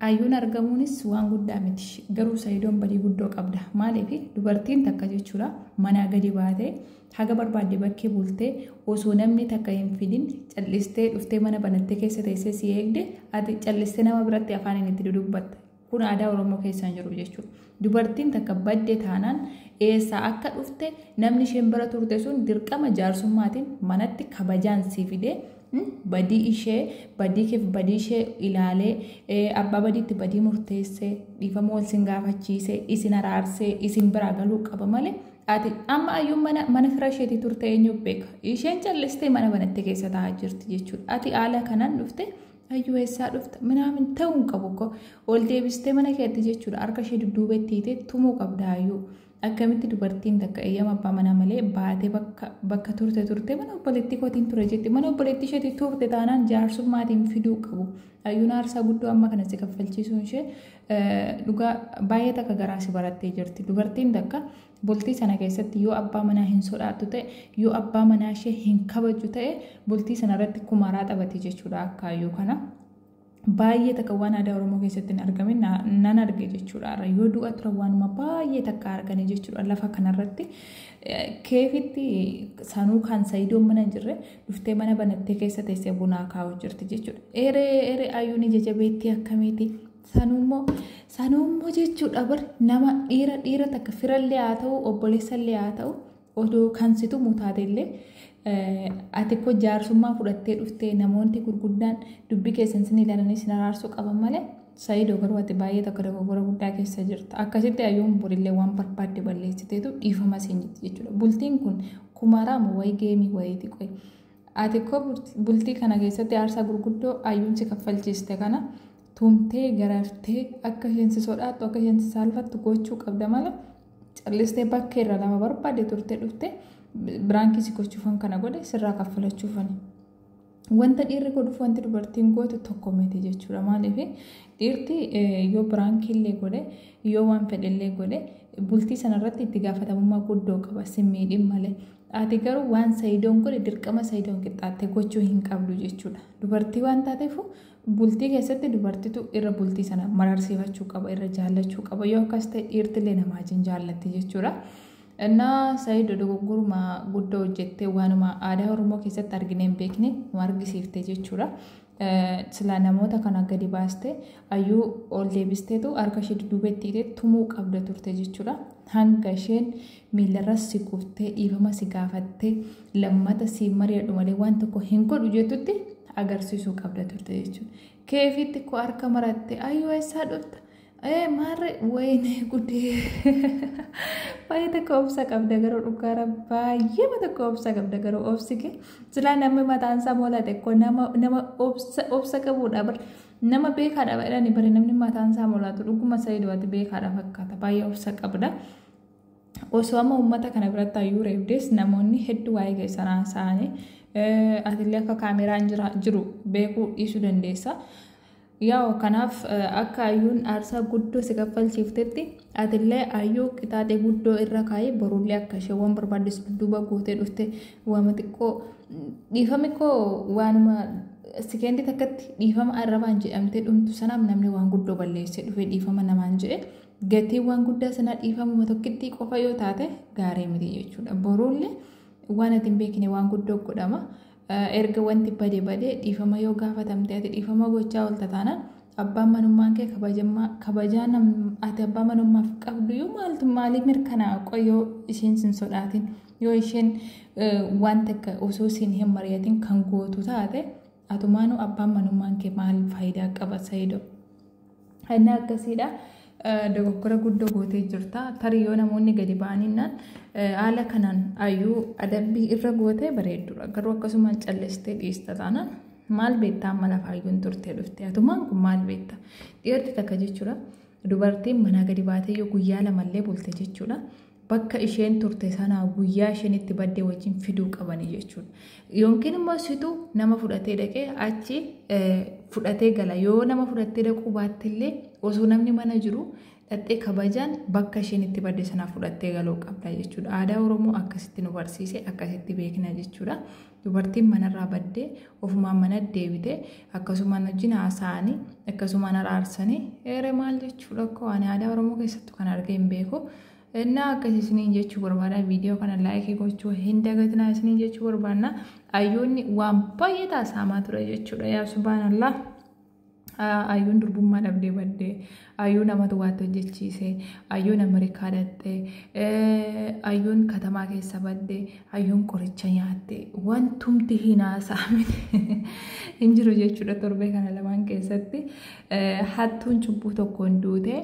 Ayyuun argamuunis waan guddaa miti. Garuu Sayidoon badii guddoo qabda. Maaliif dubartiin takka jechuudha manaa gadi baatee haga barbaadde bakkee bultee osoo namni takka hin fidin callistee dhuftee mana banattee keessa teessee si eegde ati callistee nama biratti afaaniin itti dudubbatta. Kun aadaa Oromoo keessa hin jiru jechuudha. Dubartiin takka badde taanaan eessaa akka dhufte namni isheen bira turte sun dirqama jaarsummaatiin manatti kabajaan si fidee badii ishee badii keef badii ishee ilaalee abbaa badiitti badii murteessee dhiifama wal sin gaafachiisee isin araarsee isin biraa galuu qaba malee ati amma ayyuun mana mana fira isheetii turte eenyu beeka isheen callistee mana banattee keessa taa'aa jirti jechuudha ati haala kanaan dhufte Ayyuu eessaa dhufta minaamin ta'uu hin qabu ko ol deebistee mana keetti jechuudha harka ishee dudduuba itti hiitee tumuu qabda ayyuu akkamitti dubartiin takka eeyyama abbaa manaa malee baatee bakka bakka turte turte mana obboleettii kootiin ture jetti mana obboleettii isheetii turte taanaan jaarsummaatiin fiduu qabu ayyuun aarsaa guddoo amma kana si kaffalchiisuun ishee dhugaa baay'ee takka garaa si barattee jirti dubartiin takka Bultii sana keessatti yoo abbaa manaa hin sodaattu ta'e, yoo abbaa manaa ishee hin kabajju ta'e, bultii sana irratti kumaaraa taphati jechuudha akkaayyoo kana. Baay'ee takka waan aadaa Oromoo keessatti hin argamin na- nan arge jechuudha. Har'a yoo du'a turan waanuma baay'ee takka arganii jechuudha lafa kanarratti. Eh, Keefitti sanuu kan sayidoon mana hin jirre dhuftee mana banattee keessa teessee bunaa kaa'u jirti jechuudha. Eree eree ayyuun ija jabeettii akkamiiti? Sanuummoo sanuummoo jechuudha bar nama dhiira dhiira takka firallee haa ta'u obboleessallee haa ta'u odoo kan situ mutaatellee ati koo jaarsummaa fudhattee dhuftee namoonni gurguddaan dubbii keessan sin ilaalanii sin araarsuu qaban malee saayidoo garuu ati baay'ee takka dogoggora guddaa keessa jirta akkasitti ayyoon borillee waan barbaadde balleessiteetu dhiifama siin jirti jechuudha bultiin kun kumaraamu wayii geemii wayiiti qoyi ati koo bultii kana keessatti aarsaa gurguddoo ayyuun si kaffalchiiste kana tumtee garartee akka isheen si sodaattu akka isheen si saalfattu gochuu qabda malee callistee bakkee irra nama barbaade turtee dhuftee biraankii si gochuufan kana godhe sirraa kaffalachuufani. Wanta dhiirri godhuuf wanti dubartiin gootu tokko miti jechuudha. Maaliif dhiirti yoo biraankii illee godhe yoo waan fedhe illee godhe bultii sanarratti itti gaafatamummaa guddoo qaba sin miidhin malee. Ati garuu waan sayidoon godhe dirqama sayidoon qixxaattee gochuu hin qabdu jechuudha. Dubartii waan taateef Bultii keessatti dubartitu irra bultii sana mararsiifachuu qaba, irra jaallachuu qaba. Yoo akkas ta'e dhiirtillee namaa wajjin jaallatti jechuudha. Innaa Sayido dogoggoruma guddaa hojjettee waanuma aadaa Oromoo keessatti arginee hin beekne nu argisiifte jechuudha. Silaa namoota kana gadi baaste ayyuu ol deebisteetu harka ishee dudduubetti hidhee tumuu qabda turte jechuudha. Hanga isheen miilarras si kuftee dhiifama si gaafattee lammata siin mari'adhu malee waan tokko hin godhu jettutti agarsiisuu qabda turte jechuudha. Keefitti koo harka maratte ayyoo eessaa dhufta ee maarre wayinee gudee baay'ee tokko obsa qabda garuu dhugaara baay'eema tokko obsa qabda garuu obsi kee silaa namni mataan isaa moolate koo nama nama obsa obsa qabuudha bar nama beekaadha jedhani bari namni mataan isaa moolatu dhuguma sayidooti beekaadha fakkaata baay'ee obsa qabda. osoo amma uummata kana biratti hayyuu reebdees namoonni hedduu waa'ee keessan haasa'anii atillee akka kaameraan jiru beekuu dhiisuu dandeessa. Yaa'u kanaaf akka hayyuun aarsaa guddoo si kaffalchiiftetti atillee hayyuu qixaaxee guddoo irra kaa'ee borullee akka ishee waan barbaaddees duuba gootee dhufte waama xiqqoo dhiifame koo waanuma sikeendii takkatti dhiifama arrabaan jedhamtee dhumtu sanaaf namni waan guddoo balleessee dhufee dhiifama namaan jedhe. gatiin waan guddaa sanaa dhiifamuma tokkittii qofa yoo taate gaarii miti jechuudha. Boruullee waan ati hin beekne waan guddoo godhama. Erga wanti bade bade dhiifama yoo gaafatamte ati dhiifama gochaa oolta taanaan abbaan manummaan kee kabajaa ati abbaa manummaaf qabdu yoo maaltu maalii mirkanaa'a qoyoo isheen sin sodaatin yoo isheen waan takka osoo siin hin mari'atin kan gootu taate Atumaanu abbaan manummaan kee maal faayidaa qaba sayido. Inni akkasiidha. Dogoggora guddoo gootee jirta. Tarii yoo namoonni gadi ba'aninnaan haala kanaan ayyuu adabbii irra gootee bareeddudha. Garuu akkasumaan callistee dhiista taanaan maal beektaa amma lafa ayyuun turtee dhufte. Atumaan kun maal beekta? Dhiirri takka jechuudha. Dubartiin manaa gadi baatee yoo guyyaa lamallee bulte jechuudha. bakka isheen turte sanaa guyyaa isheen itti badde wajjin fiduu qabanii jechuudha. Yookiin immoo situ nama fudhatee dhaqee achi fudhatee gala. Yoo nama fudhattee dhaquu baattillee osoo namni mana jiru dhaxxee kabajaan bakka isheen itti badde sanaa fudhattee galuu qabda jechuudha. Aadaa Oromoo akkasitti nu barsiise akkasitti beekna jechuudha. Dubartiin manarraa badde ofumaan manatti deebite akkasumaan wajjin haasa'anii akkasumaan araarsanii eere maal jechuudha koo ani aadaa oromoo keessattu kan argee hin beeku innaa akkas isiniin jechuu barbaada viidiyoo kana laayikii gochuu hin dagatinaa isiniin jechuu barbaanna ayyoonni waan baay'ee taasaamaa ture jechuudha yaa subhaanallah. Ayyuun durbummaa dhabdee badde. Ayyuu namatu waatti hojjechiise. Ayyuun Ameerikaa dhaqxe. Ayyuun katamaa keessa badde. Ayyuun qoricha nyaatte. Wantumti hin haasa'amne hin jiru jechuudha torbee kana lamaan keessatti. Hattuun cubbuu tokkoon duute.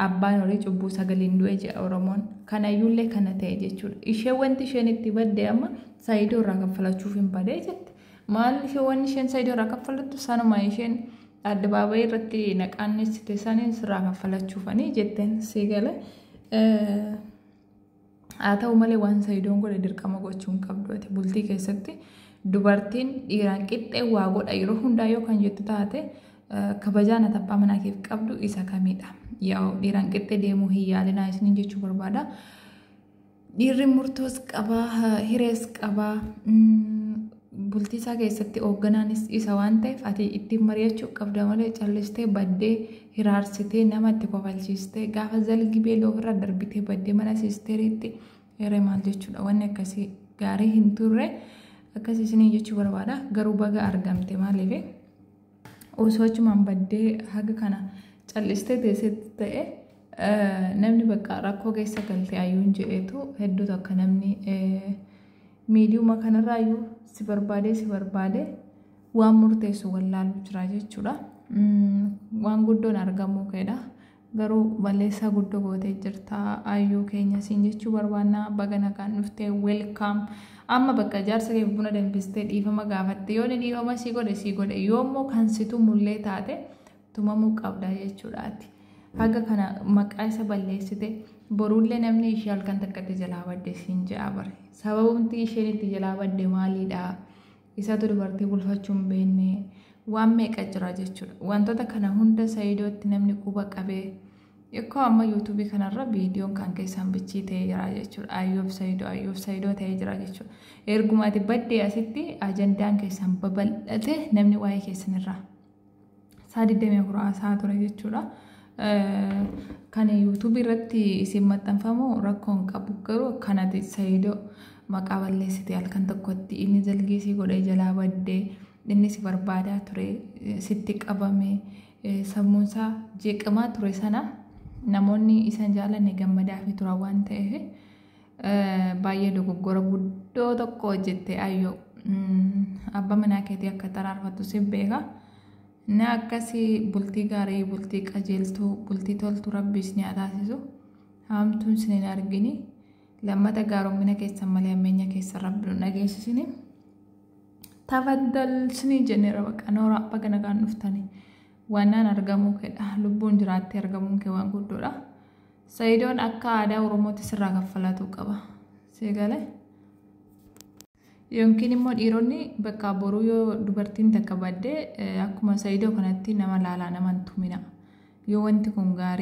Abbaan horii cubbuu sagaliin du'e jedha Oromoon. Kanayyuullee kana ta'e jechuudha. Ishee wanti isheen itti badde amma saayidoo irraa kaffalachuuf hin badee jette. Maal ishee wanni isheen Saidoo irraa kaffalattu sanuma isheen addabaabayii irratti naqaannessite saniin sirraa kaffalachuufanii jetteen sii gale. Haa ta'u malee waan Saidoon godhe dirqama gochuu hin qabdu ati bultii keessatti dubartiin dhiiraan qixxee waa godha yeroo hundaa yoo kan jettu taate kabajaan ati abbaa manaa keef qabdu isa kamidha. Yaa dhiiraan qixxee deemuu hin yaalinaa isiniin jechuu barbaada. Dhiirri murtoos qaba, hirees qaba. Bultiisaa keessatti hoogganaanis isa waan ta'eef ati ittiin mari'achuu qabda malee callistee baddee hiraarsitee nama itti kofalchiistee gaafa zalgi beeloo ofirra darbitee baddee mana siisteriitti hiree maal jechuudha wanni akkasii gaarii hin turre akkasii isinii jechuu barbaada garuu baga argamte maaliif osoo achumaan baddee haga kana cal'istee teessetti ta'e namni bakka rakkoo keessa galte ayyuun jedheetu hedduu takka namni miidiyuma kanarraa iyyuu si barbaadee si barbaadee waan murteessu wallaalu jira jechuudha. Waan guddoon argamuu keedha. Garuu balleessaa guddo gootee jirta ayyuu keenya siin jechuu barbaanna baga nagaan dhufte welcome amma bakka jaarsa kee buna danfistee dhiifama gaafatte yoo ni dhiifama sii godhe sii godhe yoo immoo kan si tumullee taate tumamuu qabda jechuudhaati haga kana maqaa isa balleessite boruullee namni ishee halkan takkatti jalaa badde siin ja'a bare sababumti isheen itti jalaa badde maaliidha Isatu dubartii bulfachuu hin beekne waan meeqa jira jechuudha. Wantoota kana hunda Saidootti namni quba qabee Ikkoo amma yuutuubii kanarra viidiyoon kan keessaan bichii ta'ee jira jechuudha. Ayyoof Saidoo Ayyoof Saidoo ta'ee jira jechuudha. Ergumaati baddee asitti ajandaan keessaan babal'ate namni waa'ee keessanirraa saa 24 haasaa ture jechuudha. Kan yuutuubii irratti isin maxxanfamu rakkoon qabu garuu kanati sayido maqaa balleessite halkan tokkotti inni jalgeesii godhee jalaa baddee inni si barbaadaa ture sitti qabame sammuunsaa jeeqamaa ture sana namoonni isan jaalanne gammadaa fi turan waan ta'eef Baay'ee dogoggora guddoo tokko hojjette ayyoo. Abba manaa keetii akka xaraarfattu si beeka. Na akkasi bultii gaarii, bultii qajeeltuu, bultii toltu rabbi isin haa taasisu. Haamtuun isin hin argini. Lammata gaaromina keessan malee ammeenya keessan rabbi nu dhageessisini. Tafaddal isinii jennee rabaqa nooraa baga nagaan dhuftani. Waannaan argamuu keedha. Lubbuun jiraattee argamuun kee waan guddoodha. Sayidoon akka aadaa Oromootti sirraa kaffalaatuu qaba. Sii gale? Yookiin immoo dhiironni bakka boruu yoo dubartiin takka badde akkuma Sayidoo kanatti nama laalaan amantumina. Yoo wanti kun gaarii.